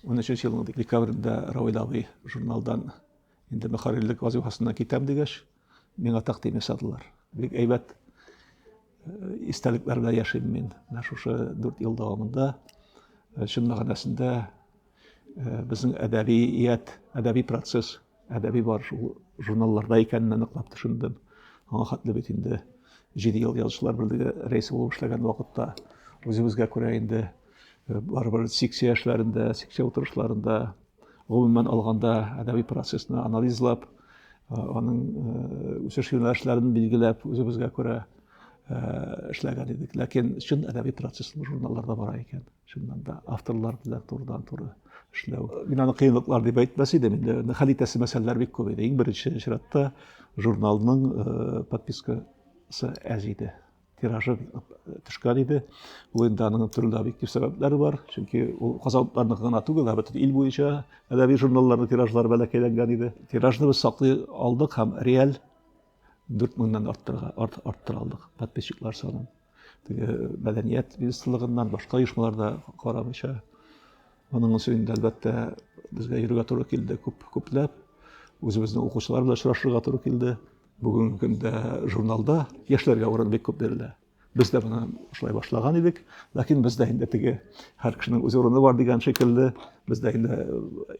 Унөченче елның декабрендә Равил абый журналдан инде мөхәррирлек вазыйфасыннан китәм дигәч, миңа тәкъдим ясадылар. Бик әйбәт истәлекләр белән яшим мин. Менә шушы дүрт ел дәвамында чын мәгънәсендә безнең әдәбият, әдәби процесс Әдәби бар шул журналларда икәнен аныклап төшендем. Аңа хәтле бит инде җиде ел язучылар берлеге рәисе булып эшләгән вакытта үзебезгә күрә инде э, барыбер секция эшләрендә, секция утырышларында, гомумән алганда әдәби процессны анализлап, э, аның э, үсеш юнәлешләрен билгеләп, үзебезгә күрә эшләгән идек. Ләкин чын әдәби процесс журналларда бара икән. чыннан да авторлар белән турыдан туры эшләү мин аны кыенлыклар дип әйтмәс идем инде хәл итәсе мәсьәләләр бик күп иде иң беренче чиратта журналның э, подпискасы әз иде тиражы э, төшкән иде ул инде аның төрле объектив сәбәпләре бар чөнки ул казанлыларныкы гына түгел ә бөтен ил буенча әдәби журналларның тиражлары бәләкәйләнгән иде тиражны без саклый алдык һәм реаль 4 мыңнан арттырга арт, арттыра алдык подписчиклар санын. Теге э, мәдәният министрлыгыннан башка оешмаларда карамыйча. Моның өчен инде әлбәттә безгә йөрергә туры килде күп күпләп. Үзебезнең укучылар белән очрашырга туры килде. Бүгенге көндә журналда яшьләргә урын бик күп бирелә. Без дә менә шулай башлаган идек, ләкин бездә инде теге һәр кешенең үз урыны бар дигән шикелле, бездә инде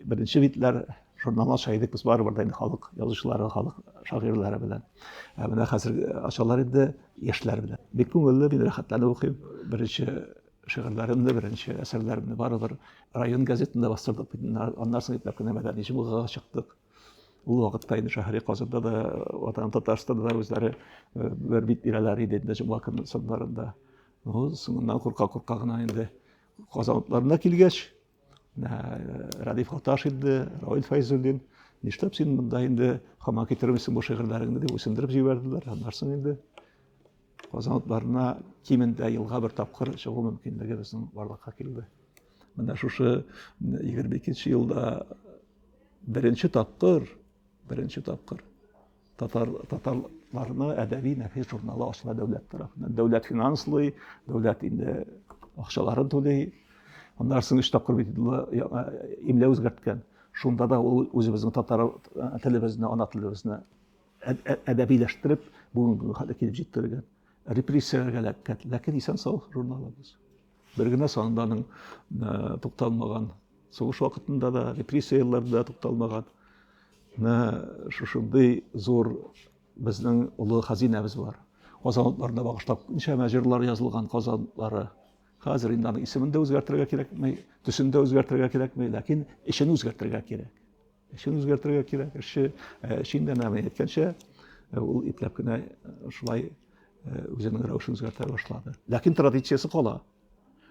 беренче битләр журналны ача идек без барыбер да инде халык язучылары, халык шагыйрьләре белән. Ә менә хәзер ачалар инде яшьләр белән. Бик күңелле, мин рәхәтләнеп укыйм. Беренче шигырьләремне, беренче әсәрләремне барыбер район газетында бастырдык, аннан соң ипләп кенә мәдәни җомгага чыктык. Ул вакытта инде шәһри Казанда да, ватан Татарстанда да үзләре бер бит бирәләр иде инде җомга көннең соңнарында. Ну, соңыннан курка-курка гына инде Казанларына килгәч, Радиф Хаташ инде, Равил Фәйзуллин, нишләп син монда инде хамак китермисең бу шигырьләреңне дип үсендереп җибәрделәр. Аннарсын инде Казан утларына кимендә елга бер тапкыр чыгу мөмкинлеге безнең барлыкка килде. Менә шушы 22 елда беренче тапкыр, беренче тапкыр татар татарларны әдәби нәфис журналы ачыла дәүләт тарафыннан. Дәүләт финанслый, дәүләт инде акчаларын түли. Аннан соң өч тапкыр бит имлә үзгәрткән. Шунда да ул үзебезнең татар телебезне, ана телебезне әдәбиләштереп бүгенге көнгә хәтле килеп җиткергән репрессияләргә эләккән ләкин исән сау журналыбыз бер генә санында аның э, тукталмаган сугыш вакытында да репрессия елларында тукталмаган менә шушындый зур безнең олы хәзинәбез бар казан утларына багышлап ничәмә җырлар язылган казанлары хәзер инде аның исемен дә үзгәртергә кирәкми төсен дә үзгәртергә кирәкми ләкин эчен үзгәртергә кирәк Эшен үзгәртергә кирәк. Эшче эшен дә нәме әйткәнчә, ул ипләп кенә шулай үзенең рәвешен үзгәртә башлады. Ләкин традициясе кала.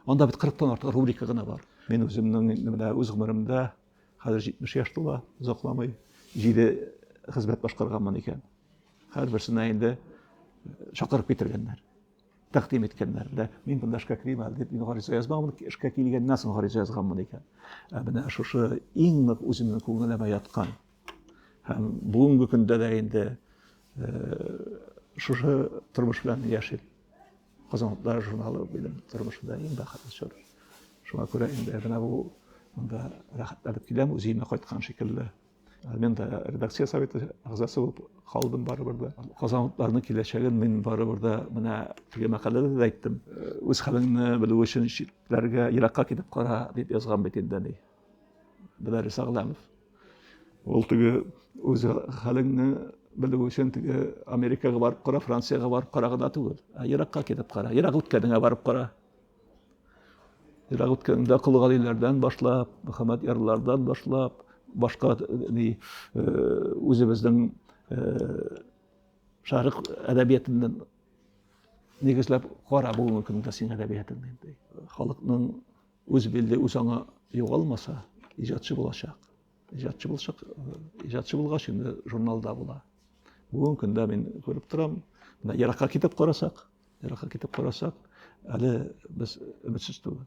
Анда бит 40-тан артык рубрика гына бар. Мин үземнең менә үз гомеремдә хәзер 70 яшь тула, озакламый 7 хезмәт башкарганмын икән. Һәрберсенә инде чакырып китергәннәр. тәкъдим иткәннәр дә мин монда эшкә керим әле дип мин гариза язмаган эшкә килгәннән соң гариза язганмын икән ә менә шушы иң нык үземнең күңелемә яткан һәм бүгенге көндә дә инде шушы тормыш белән яшим казанлыклар журналы минем тормышымда иң бәхетле чор шуңа күрә инде менә бу монда рәхәтләнеп киләм үземә кайткан шикелле Мен дә редакция советы әгъзасы булып калдым барыбер дә. Казанлыларның киләчәген мин барыбер дә менә теге мәкаләдә дә әйттем. Үз хәлеңне белү өчен читләргә, еракка китеп кара, дип язган бит инде ни. Беләр Сагламов. Ул теге үз хәлеңне белү өчен теге Америкага барып кара, Франциягә барып кара гына түгел. Еракка китеп кара, ерак үткәнеңә барып кара. Ерак үткәндә Кол Галиләрдән башлап, Мөхәммәд Ярлардан башлап, башка ни үзебезнең шәрык әдәбиятыннан нигезләп кара бүгенге көндә син әдәбиятын инде. Халыкның үз билде, үз аңы югалмаса, иҗатчы булачак. Иҗатчы булачак, иҗатчы булгач инде журналда була. Бүгенге көндә мин күреп торам, менә еракка китеп карасак, Еракка китеп карасак, әле без өметсез түгел.